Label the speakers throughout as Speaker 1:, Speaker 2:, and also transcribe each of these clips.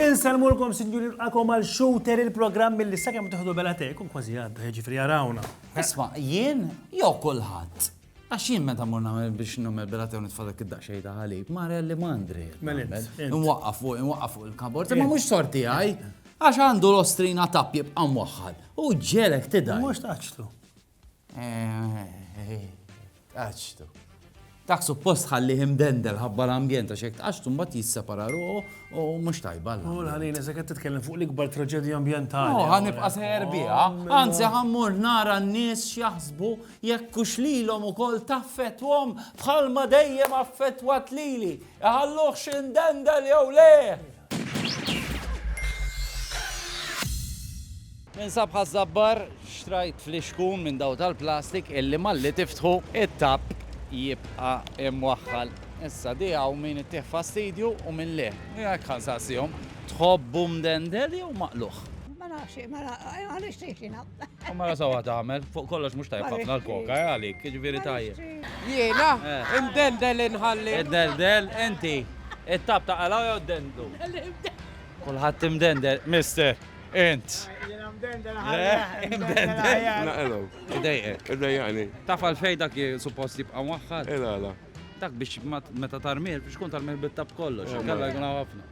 Speaker 1: Insalmulkom sinjuri nqakom għal shooter il-programm mill sakemm tiħdu bela tek u kważi għadda ġifri għarawna. Isma, jien
Speaker 2: jew kulħadd. Għax jien meta mur nagħmel biex nagħmel bilat jew nitfa' dak id-daqsxejn ta' ħalib, mara li m'għandri. Mela, Nwaqqaf fuq, nwaqqaf fuq il-kabord, imma mhux sorti għaj, għax għandu l-ostrina tapp jibqa' mwaħħal. U ġelek tidaj. Mhux taċtu. Taċtu. Dak suppost ħalli himdendel ħabba l-ambjent għax hekk għax tumbat jissepara ruħu u mhux tajba. U l-ħalin eżek qed
Speaker 1: titkellem fuq l-ikbar traġedja ambjentali. U ħanibqa' seher
Speaker 2: biha, anzi ħammur nara n-nies x'jaħsbu Jekk hux lilhom ukoll taffettwahom bħalma dejjem affettwat lili, iħalluhx indendel jew le! Ninsab ħaż-żabbar, xtrajt flixkun minn daw tal-plastik illi malli tiftħu it-tapp jibqa' imwaħħal. Issa di hawn min ittih fastidju u min le. Jekk ħansaqsihom, tħobbu mdendel jew maqluħ? Ma nafx, ma
Speaker 3: nafx, għaliex tgħidlina? U mara sawa
Speaker 2: tagħmel, fuq kollox mhux tajjeb ħafna l-koka eh, għalik, jiġifieri tajjeb. Jiena, eh.
Speaker 4: imdendel inħalli. Imdendel, inti,
Speaker 2: it-tab ta' qalaw jew dendlu. Kulħadd imdendel, mister, int.
Speaker 5: Naqelu. Idejqek.
Speaker 2: Idejqani. Taf
Speaker 5: għal fejn dak
Speaker 2: suppost jibqa' mwaħħad. Ela, ela. Dak
Speaker 5: biex
Speaker 2: meta tarmir, biex kun tarmir bit-tab kollox, kalla jkun ħafna.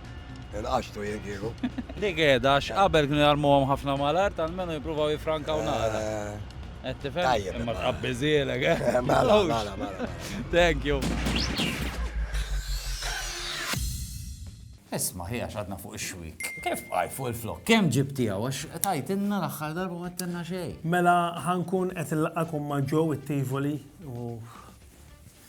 Speaker 2: Il-qaxtu
Speaker 6: jiekilu. Li għeda,
Speaker 2: x'qabel kienu jarmuhom ħafna malar, tal-menu jipruvaw jifrankaw nara. Qed eh, tifhem? Tajjeb. Imma tqabbiżielek, eh? eh mela, mela, mela.
Speaker 6: Thank you.
Speaker 2: Isma, ħija xadna fuq ix-xwik. Kif għaj fuq il-flok? Kem ġibtija, għax tajtinna l-axħar darba għattinna xej. Mela ħankun
Speaker 1: qed il-laqakum ma' ġew it-tivoli u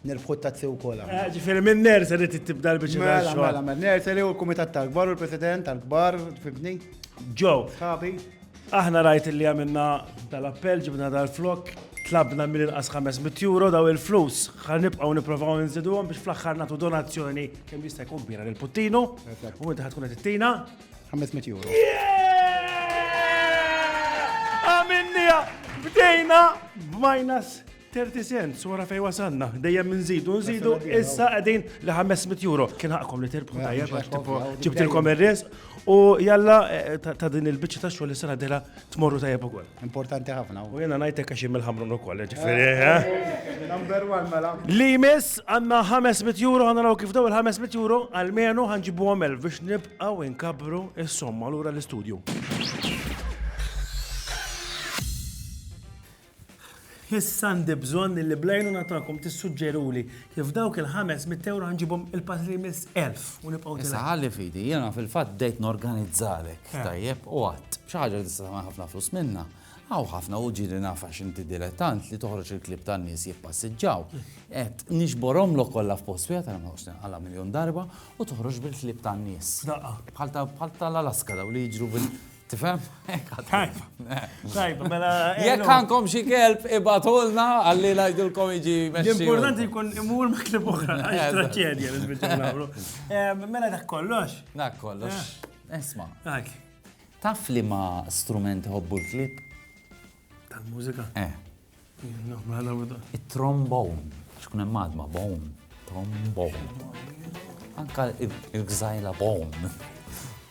Speaker 7: Nirbħu t-tazzi u kola. Eh, ġifiri minn nursery
Speaker 1: tibda l-bicċa mela, ta' xogħol. Mela, mela, nursery u
Speaker 7: l-kumitat tal-kbar u l-president tal-kbar, fibni. Ġo.
Speaker 1: Sabi.
Speaker 7: Aħna rajt
Speaker 1: li għamilna tal-appell, ġibna tal-flok, tlabna mill inqas 500 euro daw il-flus. Ħan nibqgħu nipprovaw nżiduhom biex fl-aħħar nagħtu donazzjoni kemm jista' jkun kbira lil Puttinu u inti ħatkun qed ittina 500 euro. Għamilniha bdejna b'minus Thirty cents, u ara fejn wasalna, dejjem inżidu, nżidu, issa qegħdin li 500 euro. Kien ħaqkom li tirbħu mela, tajjeb għax tipo ġibtilkom ir-risq u jalla eh, ta' din il-biċċa ta' xogħol issa ngħidilha tmorru tajjeb ukoll. Importanti ħafna. U
Speaker 7: jiena ngħidlek għax jien
Speaker 1: mill-ħamrun ukoll, ġifieri. Eh? Eh, number one mela.
Speaker 7: Li miss għandna
Speaker 1: 500 euro għandna naraw kif daw il-500 euro għalmenu ħanġibu għamel biex nibqgħu inkabru is-somma lura l-istudju. Issa għandi bżonn li bl-għajnuna tagħkom tissuġġeruli kif dawk il-ħames mitt ewro ħa nġibhom il-pass li jmiss elf u nibqgħu ntilgħu. Issa ħalli fidi, jiena
Speaker 2: fil-fatt bdejt norganizzalek, eh. tajjeb, u għadd, xi ħaġa li tista' tagħmel ħafna flus minnha. Għaw ħafna u ġiri nafa xinti dilettant li toħroġ il-klib tan nies jippassiġġaw. Et nixborom lo kollha f'post wieħed għal ma għala miljon darba u toħroġ bil-klib tan nies. Bħal tal-Alaska daw li jiġru bil Tifhem? Tajba.
Speaker 1: Tajba, mela. Eh, Jekk għandkom xi
Speaker 2: kelb ibatulna għalli ngħidilkom iġi mexxi. Importanti jkun imur
Speaker 1: ma' klib oħra, għax traċedja li nagħmlu. Eh, mela dak kollox. Dak kollox.
Speaker 2: Eh. Isma'.
Speaker 1: Taf li
Speaker 2: ma' strument hobbu l-klib?
Speaker 1: Tal-mużika? Eh. Mela Il-trombon.
Speaker 2: Xkun hemm madma bon. Trombon. Anka il-gżajla bon.